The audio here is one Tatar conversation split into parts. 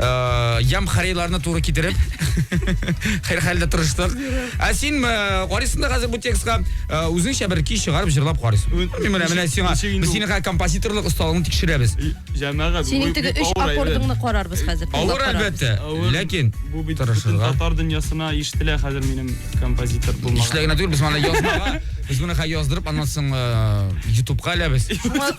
Э, ям хариларны туры китереп хәр хәлдә тырыштык ә син э, карыйсың да хәзер бу текстка э, үзеңчә бер көй чыгарып җырлап карыйсың менә менә сиңа без синең композиторлык осталыгыңны тикшерәбез җәмәгать синең теге өч аккордыңны карарбыз хәзер авыр әлбәттә ләкин бу бит татар дөньясына ишетелә хәзер минем композитор булмаган ишетелә генә түгел без моны язмага без моны яздырып аннан соң ютубка эләбез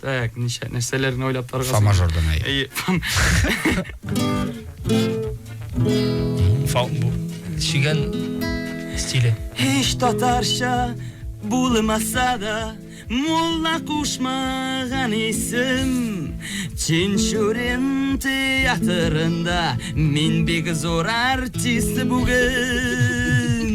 Так, ничә нәрсәләрне уйлап тарган. Фа мажордан әй. Әйе. Фа бу чигән стиле. Һич татарча булмаса да, мулла кушмаган исем. Чинчурин театрында мин бик зур артист бүген.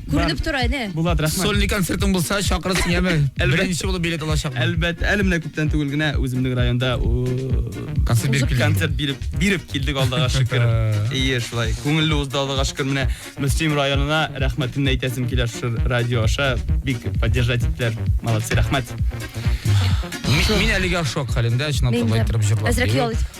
Күренеп тора, әнә. Булат, рәхмәт. Сольный концертың булса, чакырырсың яме. Беренче булып билет алачакмын. Әлбәттә, әле менә күптән түгел генә үземнең районда концерт биреп килдем. Концерт биреп, биреп килдек алдыга шөкер. Ие, шулай. Күңелле узды алдыга шөкер. Менә Мөслим районына рәхмәтемне әйтәсем килә шушы радио аша. Бик поддержать иттеләр. Молодцы, рәхмәт. Мин әлегә шок хәлендә, чынлап та, былай торып җырлап. Әзрәк ял итеп.